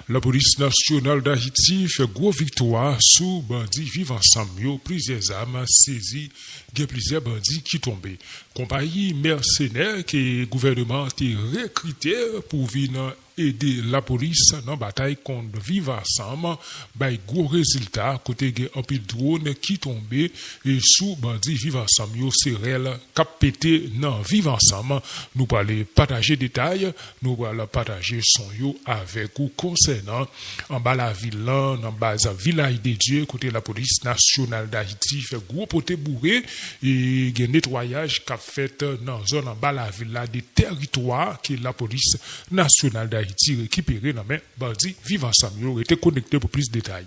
Lapolis Nasyonal Dayiti fè gwo viktwa sou bandi Viv Ansanm yo, plizyè zam sezi, gen plizyè bandi ki tonbe. Konpayi mèsenè ke gouvèneman an te rekrite pou vin ede lapolis nan batay kont Viv Ansanm bay gwo rezilta kote gen anpil dwon ki tonbe sou bandi Viv Ansanm yo se rèl kap pete nan Viv Ansanm nou pwale pataje detay Nou pral pataje son yo avèk ou konsènan anba lavil lan nan baz Vilaj de Dye kote Lapolis Nasyonal Dayiti fè gwo pote boure e gen netwayaj k ap fèt nan zòn anba lavil la de tèritwa ke Lapolis Nasyonal Dayiti rekipere nan men bandi Viv Ansanm yo. Rete konekte pou plis detay.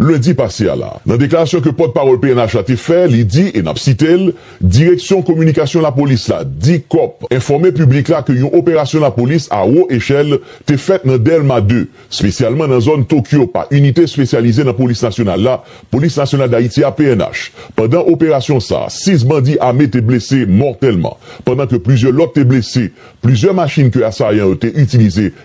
lendi pase a la. Nan deklarasyon ke pòt pawòl pnh la te fè, li di, e nap site l, Direksyon kominikasyon lapolis la, Dicop, enfòme piblik la ke yon operasyon lapolis a wo echèl te fèt nan Dèlma 2, spesyalman nan zòn Tokyo pa inite spesyalize nan polis nasyonal la, Polis Nasyonal Dayiti a, pnh. Pandan operasyon sa, 6 bandi ame te blese mòtèlman, pandan ke plizyè lòt te blese. Plizyè machin ke asayan yo te itilize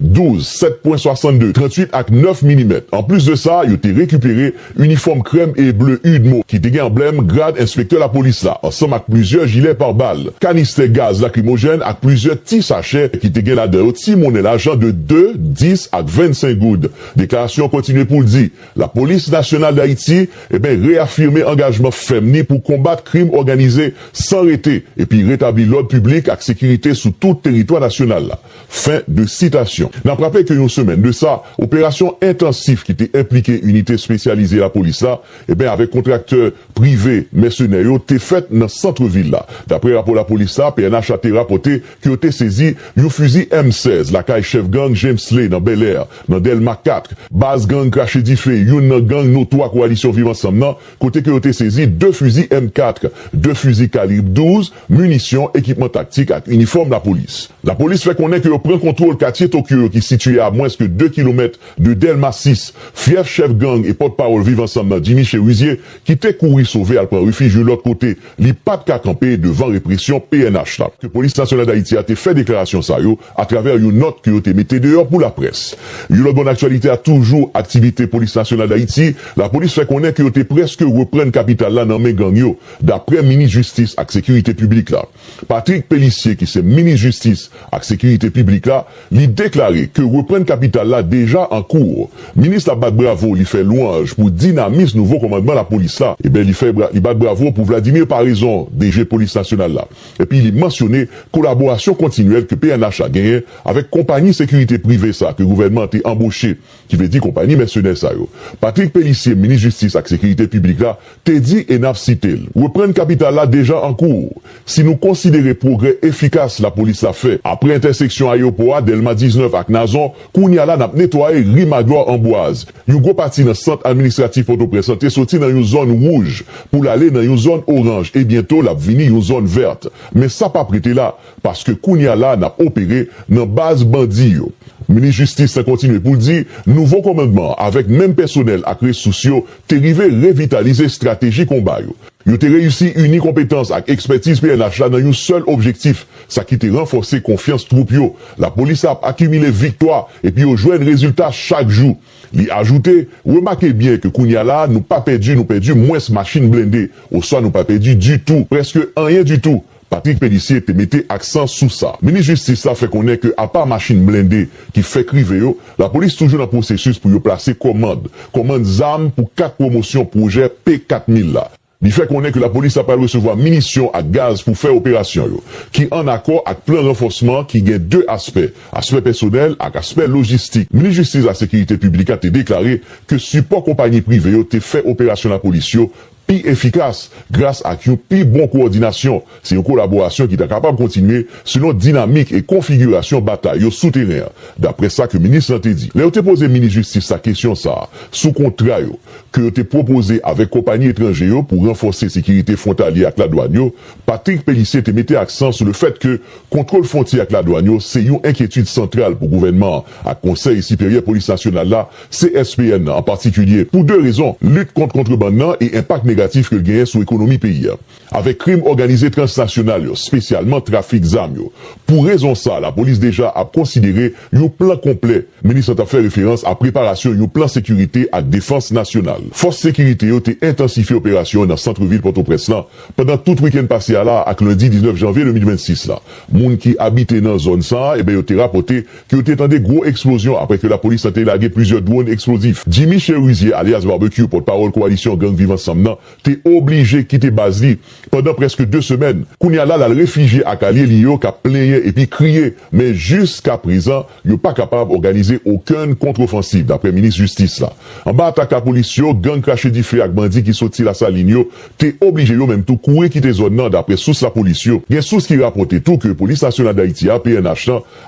12, 7 pwen 62, 38 ak 9 milimèt. Anplis de sa, yo te rekipere inifòm krèm e ble udmo ki te gen anblèm grad enspektè lapolis la, ansanm ak plizyè jilè par bal, kanistè gaz lakrimojèn ak plizyè ti sachè ki te gen ladan yo ti monnen lajan de 2, 10 ak 25 goud. Deklarasyon an kontinye pou l di, Lapolis nasyonal Dayiti eben reyafime angajman fèm ni pou konbat krim òganize san rete epi retabli lòd piblik ak sekirite sou tout teritwa nasyonal la. Fen de sitasyon. N ap raple ke yon semèn de sa, operasyon entansif ki te enplike inite espesyalize lapolis la, eben avèk kontraktè prive mèsenè yo te fèt nan santre vil la. Dapre rapò lapolis la, pnh a te rapòte ke yo te sezi yon fizi M 16 lakay chèf gang Jamesley nan Bèlè, nan Dèlma 4, baz gang Krache Dife, youn nan gang notwa Kowalisyon Viv Ansanm nan, kote ke yo te sezi 2 fizi M 4, 2 fizi kalib 12, minisyon, ekipman taktik ak inifòm lapolis. Lapolis fè konnen ke yo pran kontwol katye Tokyo yo ki sitiye a mwens ke 2 kilomèt de Dèlma 6, fyèf chèf gang e pòt pawòl Viv Ansanm nan Jimmy Cherizier ki te kouri sove al pran refij you lòt kote li pat ka kanpe devan represyon pnh la. ke Polis Nasyonal Dayiti a te fè deklarasyon sa yo atravè you nòt ke yo te mete deyò pou laprès. You lòt bò nan aktyalite a toujou aktivite Polis Nasyonal Dayiti, lapolis fè konnen ke yo te prèske reprann kapital la nan men gang yo. Daprè minis jistis ak sekirite piblik la, Patrick Pélissier ki se minis jistis ak sekirite piblik la, li deklare ke reprann kapital la deja an kour. Minis la bat bravo, li fè lwanj pou dinamis nouvo komandman lapolis la. Eben li fè li bat bravo pou Vladimir Paraison, DG polis nasyonal la. Epi li mansyone kolaborasyon kontinyèl ke pnh la genyen avèk konpanyi sekirite prive sa ke gouvènman an te anboche ki vle di konpayi mèsenè sa yo. Patrick Pélissier, minis jistis ak sekirite piblik la, te di e n ap site l, Reprann kapital la deja an kou. Si nou konsidere pwogrè efikas lapolis la fè apre entèseksyon ayewopò a, Dèlma 19 ak Nazon, kounye a la n ap netwaye ri Magloire Ambroise. Yon gwo pati nan sant administratif Pòtoprens lan te soti nan yon zòn wouj pou l ale nan yon zòn oranj e byento l ap vini yon zòn vèt. Men sa p ap rete la. Paske kounya la nap opere nan baz bandi yo. Minis jistis la kontinye pou l di nouvo komandman an avèk menm pèsonèl ak resous yo te rive revitalize estrateji konba yo. Yo te reyisi ini konpetans ak ekspètiz pnh la nan yon sèl objektif, sa ki te ranfòse konfyans twoup yo. Lapolis la ap akimile viktwa epi yo jwenn rezilta chak jou. Li ajoute, Remake byen ke kounya la nou pa pèdi nou pèdi mwens machin blende oswa nou pa pèdi ditou, prèske anyen ditou. Patrick Pélissier te mete aksan sou sa. Minis jistis la fè konnen ke apa machin blende ki fèk rive yo, lapolis toujou nan pwosesis pou yo plase kòmand, kòmand zam pou 4 pwomosyon pwojè P 4000 la. Li fè konnen ke lapolis la pral resevwa minisyon ak gaz pou fè operasyon yo, ki an akò ak plan ranfòsman ki gen 2 aspè, aspè pèsonèl ak aspè lojistik. Minis jistis ak sekirite piblik la te deklare ke sipò konpayi prive yo te fè operasyon lapolis yo pi efikas gras ak yon pi bon kowòdinasyon. Se yon kolaborasyon ki ta kapab kontinye selon dinamik e konfigirasyon batay yo sou teren an, daprè sa ke minis lan te di. Lè yo te poze minis jistis la kesyon sa a sou kontra yo ke yo te pwopoze avèk konpayi etranje yo pou ranfòse sekirite fwontalye ak ladwàn yo, Patrick Pélissier te mete aksan sou le fèt ke kontwol fwontyè ak ladwàn yo se yon enkyetid santral pou gouvènman an ak Konsèy Siperyè Polis Nasyonal la, CSPN nan an patikilye pou 2 rezon, lit kont kontrebann nan e enpak negatif ke l genyen sou ekonomi peyi a. Avèk krim òganize transnasyonal yo, spesyalman trafik zam yo. Pou rezon sa, lapolis deja ap konsidere yon plan konplè. Minis lan t ap fè referans a preparasyon yon plan sekirite ak defans nasyonal. Fòs sekirite yo te entansifye operasyon nan santrevil Pòtoprens lan pandan tout wikenn pase a la ak lendi 19 janvye 2026 la. Moun ki abite nan zòn sa a, e ben yo te rapòte ke yo te tande gwo eksplozyon apre ke lapolis lan te lage plizyè dwòn eksplozif. Jimmy Cherizier alyas Barbecue, pòtpawòl kowalisyon gang Viv Ansanm nan, te oblije kite baz li pandan prèske 2 semèn. Kounye a la, l al refijye ak alye li yo k ap plenyen epi kriye, men jiskaprezan, yo pa kapab òganize okenn kontrofansiv, daprè minis jistis la. Anba atak lapolis yo, gang krache dife ak bandi ki soti Lasalin yo te oblije yo menm tou kouri kite zòn nan, daprè sous lapolis yo. Gen sous ki rapòte tou ke Polis Nasyonal Dayiti a, pnh, lan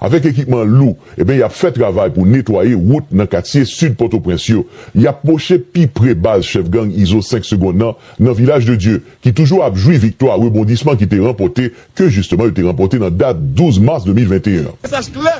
Avèk ekipman lou, eben y ap fè travay pou netwaye wout nan katye sid Pòtoprens yo. Y ap pwoche pi pre baz chèf gang Izo 5 segonn nan, nan Vilaj de Dye, ki toujou ap jwi viktwa rebondisman ki te ranpòte, ke jisteman yo te ranpòte nan dat 12 mas 2021 an.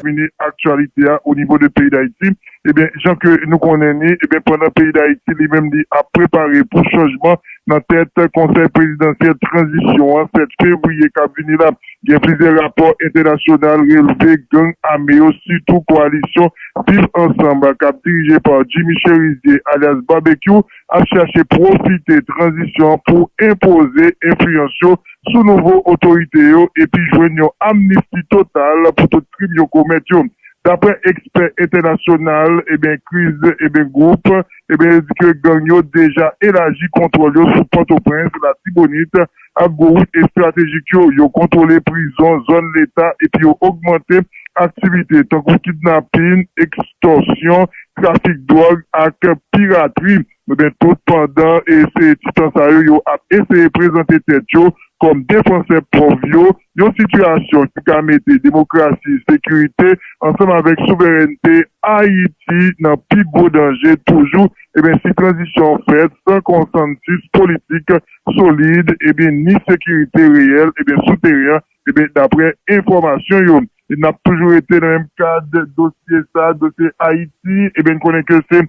Mini aktyalite a onivo de peyi Dayiti, Ebyen jan ke nou konnen ni, ebyen pandan peyi Dayiti li menm li ap prepare pou chanjman nan tèt konsèy prezidansyèl tranzisyon an 7 fevriye kap vini la, gen plizyè rapò entènasyonal relve gang ame yo sitou koalisyon Viv Ansanm kap dirije pa Jimmy Cherizier alyas Babekyou ap chache pwofite tranzisyon an pou enpoze enfliyans yo sou nouvo otorite yo epi jwenn yon amnisti total pou tout krim yo komèt yo. Daprè ekspè entènasyonal ebyen kriz ebyen gwoup ebyen yo di ke gang yo deja elaji kontwòl yo sou Pòtoprens, Latibonit ak gwo wout estratejik yo, yo kontwole prizon, zòn leta epi yo ogmante aktivite tankou kidnapin, ekstòsyon, trafik dwòg ak piratri. Men tout pandan eseye ti tan sa yo, yo ap eseye prezante tèt yo kòm defansè pòv yo, yon sitiyasyon ki ka mete demokrasi, sekirite ansanm avèk souverènte Ayiti nan pi gwo danje toujou ebyen si tranzisyon an fèt san konsansis politik solid ebyen ni sekirite reyèl ebyen sou teren an ebyen daprè enfòmasyon yo. N ap toujou rete nan menm kad dosye sa, dosye Ayiti. Ebyen n konnen ke se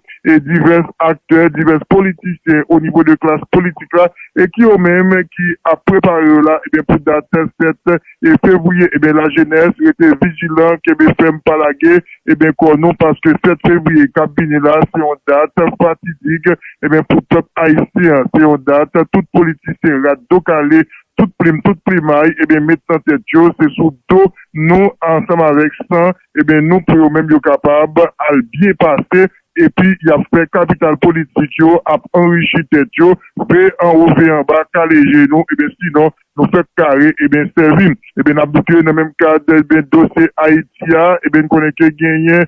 divès aktè, divès politisyen o nivo de klas politik la e ki yo menm ki ap prepare yo la ebyen pou dat 7 fevriye. Ebyen lajenès rete vijilan, kenbe fèm pa lage ebyen kò nou paske 7 fevriye k ap vini la se yon dat fatidik ebyen pou pèp ayisyen an. Se yon dat tout politisyen rat do kale Tout plim, tout plimay, ebyen met nan tèt yo, se sou do nou ansanm avèk san, ebyen nou pou yo menm yo kapab al byen pase, epi y ap fè kapital politik yo ap anrichi tèt yo, ve anwo ve anba, kale je nou, ebyen sinon nou fèk kare, ebyen sèvi. Ebyen n ap bouke nan menm kad ebyen dosye Ayiti a, ebyen n konnen ke genyen.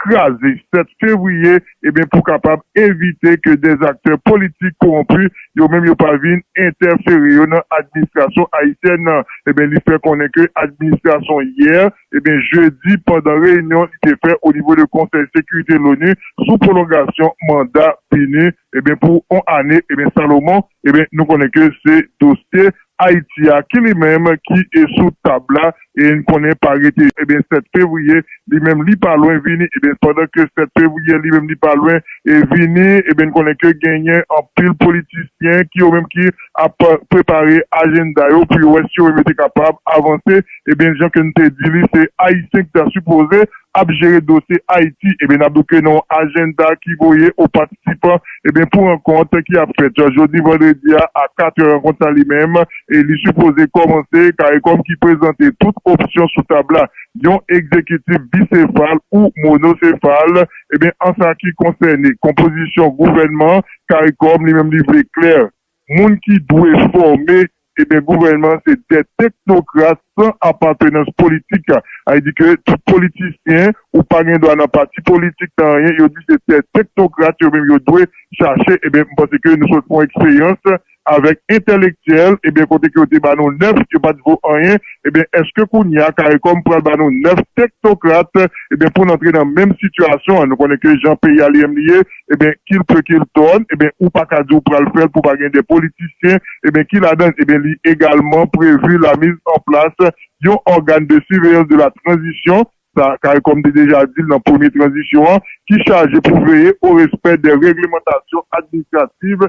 kraze 7 fevriye eben pou kapab evite ke des aktè politik kowonpi yo menm yo pa vin entèfere yo nan administrasyon ayisyèn nan eben li fè konnen ke administrasyon yè eben jedi pandan reyinyon li te fè o nivo de konsèy sekirite loni sou pwolongasyon manda pini Ebyen pou on ane ebyen Salomon ebyen nou konnen ke se dosye Ayiti a ki li menm ki e sou tab la e n konnen pa rete ebyen 7 fevriye li menm li pa lwen vini ebyen pandan ke 7 fevriye li menm li pa lwen e vini ebyen n konnen ke genyen anpil politisyen ki yo menm ki ap prepare ajenda yo pou yo wè si yo menm yo te kapab avanse ebyen jan ke n te di li se Ayisyen ki ta sipoze ap jere dosye Ayiti ebyen nap bouke nan yon ajenda ki voye o patisipan ebyen pou rankont ki ap fèt jodi vandredi a a 4 è rankont sa li menm e li sipoze kòmanse caricom ki prezante tout opsyon sou tab la yon egzekitif bisefal ou monosefal ebyen an sa ki konsène konpozisyon gouvènman caricom li menm li vle klè moun ki dwe fòme ebyen gouvènman se dè teknokrat san apatenans politik sa di ke tout politisyen ou pa gen dwa nan pati politik nan anyen yo di se dè teknokrat yo menm yo dwe chache ebyen m panse ke nou sot fon eksperyans avèk entèlektyèl ebyen kote ke yo te ba nou 9 yo pat vo anyen ebyen eske kounya caricom pral ba nou 9 teknokrat ebyen poun antre nan menm sitiyasyon an nou konnen ke jan peyi a li menm li ye. ebyen kil pe kil tòn ebyen ou paka di ou pral fèl pou pa gen de politisyen ebyen ki ladann ebyen li egalman prevu la miz an plas yon ògan de siveyans de la tranzisyon sa caricom te deja dil nan premye tranzisyon an ki chaje pou veye o respè de reglemantasyon administrativ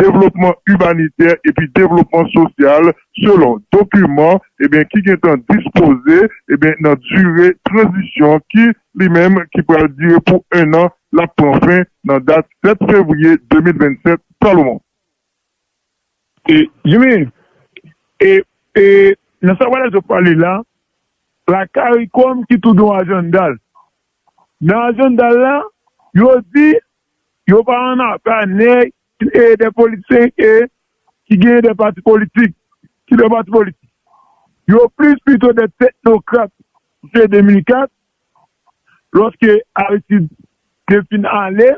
devlopman imanitè epi devlopman sosyal selon dokiman eh ki gentan dispoze eh nan dire tranzisyon ki, li menm, ki pral dire pou ennan, l ap pran fen nan dat 7 fevriye 2027 Salomon. E, Jimmy, e, e, nan sa Walex ap pale la, la caricom ki tou gen yon ajanda l. Nan ajanda l la, yo di Yo pa an afè a nèg e de politisyen e ki genyen de pati politik, ki de pati politik. Yo plis pito de teknokrat se 2004 loske Aristid te fin ale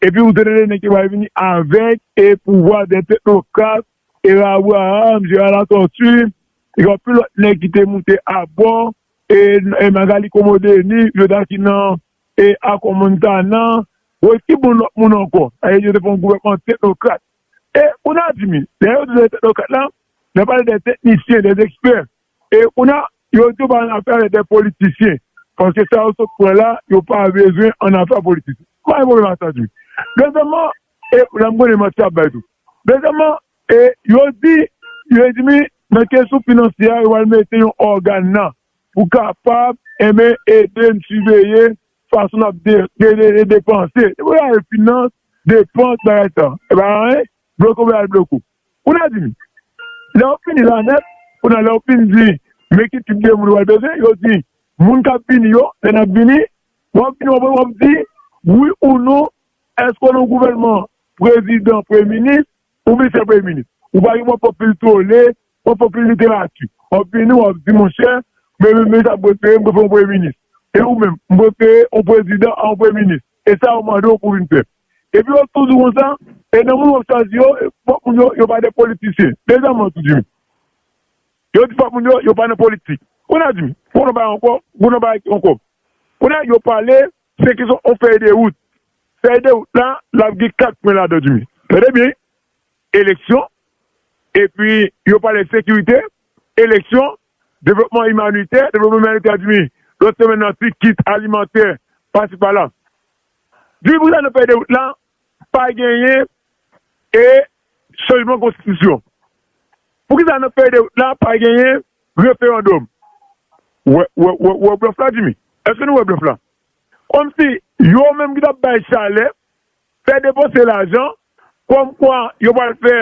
epi ou te tande nèg yo bay vini avèk e pouvwa de teknokrat era Abraham, Gérard Latortue e anpil lòt nèg ki te moute abò e Magalie Comodenis yo ta ki nan. E ak on moun sa nan. Woy ki bon lòt moun ankò? Ayè yo te fè yon gouvènman teknokrat. E kounye a Jimmy, lè yo di yo se teknokrat la, y ap pale de teknisyen, de ekspè. E kounye a, yo di yo pa annafè avèk de politisyen. Paske sa yo sot pran la, yo pa bezwen annafè ak politisyen. M pa gen pwoblèm ak sa Jimmy. Dezyèmman, e la m konnen manti y ap bay tou. Dezyèmman, e yo di, yo di Jimmy, nan kesyon finansye a, yo pral mete yon ògàn nan. Ou kapab enben ede n siveye fason n ap depanse. Depi w gade finans, depans, bagay sa yo, e pa gen anyen? Bloke w al bloke w. Ou nan di m, lè w fini la nèt, kounye a lè w fin di men ki tip de moun ou pral bezwen, yo di moun k ap vini yo, lè n ap vini, w ap vini w ap di wi ou non èske w nan yon gouvènman prezidan, premye minis ou misye premye minis. Ou pa gen pou w ap fè pil tole Wap fè anpil literati, wap vini wap di monchè men menm leta mwen prefere mwen fè yon premye minis e ou menm mwen prefere yon prezidan a yon premye minis e sa yo mande w pou vin fè epi wap toujou konsa e nan moun wap chwazi yo fòk moun yo yo pa de politisyen deja mwen tou di w yo di fòk moun yo yo pa nan politik kounye a di m fòk nou bay ankò pou nou bay ankò kounye a yo pale se kesyon yon fèy de wout fèy de wout la lap gen 4 pwen ladan di m tande byen. eleksyon, epi yo pale sekirite, eleksyon, devlopman imanitè, devlopman imanitè dmi lòt semenn nan ti kit alimantè pasi pala. Dmi pou sa nan fèy de wout la pa genyen e chanjman konstitisyon? Pou ki sa nan fèy de wout la pa genyen referandòm? Ou wè blòf la dmi? Eske nou wè blòf la? Kòm si yo menm ki t ap bay chalè Fè depanse lajan, kòm kwa yo pral fè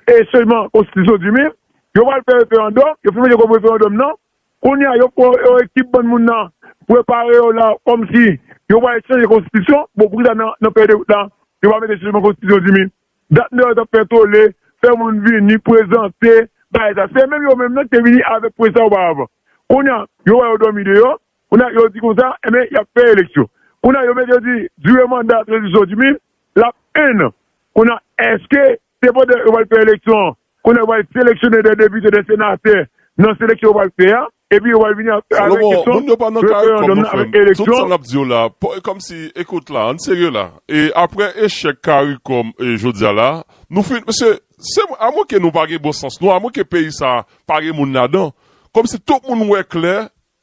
e chanjman konstitisyon di min, yo pral fè referandòm, yo fin mete kòb referandòm nan, kounye a yo pran yon ekip bann moun nan prepare yo la kòm si yo pral chanje konstitisyon, bon pou kisa nan fèy de wout la yo pa mete chanjman konstitisyon di min, dat nèg yo tap fè tole, fè moun vini, prezante, bay sa, se menm yo menm nan ki te vini avèk pwojè sa oparavan, kounye a yo wè yo dòmi deyò, Kounye a yo di konsa, enben y ap fè eleksyon. Kounye a yo mete yo di dire manda tranzisyon Jimmy l ap enn an. Kounye a èske se pandan yo pral fè eleksyon an, kounye a yo pral seleksyone dè depite, dè senatè nan seleksyon yo pral fè a, epi yo pral vini avèk kesyon referandòm nan, avèk eleksyon? Salomon, moun yo pa nan kay, kòm nou fè m, tout sa n ap di yo la, kòmsi, ekout la, ann serye la, e aprè echèk caricom e jodi a la, nou fin, mesye, se mwen, amwenke nou pa gen bon sans nou, amwenke peyi sa a pa gen moun ladan, kòmsi tout moun wè klè,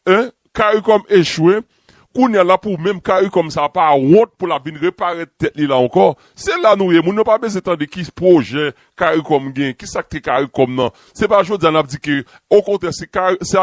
Hein caricom echwe kounya lap ou menm caricom sa pa wont pou lap vin reparèt tèt li la ankò se la nou ye moun yo pa bezwen tande ki pwojè caricom gen ki sak te caricom nan se pa jodia nap di ke okontrè se se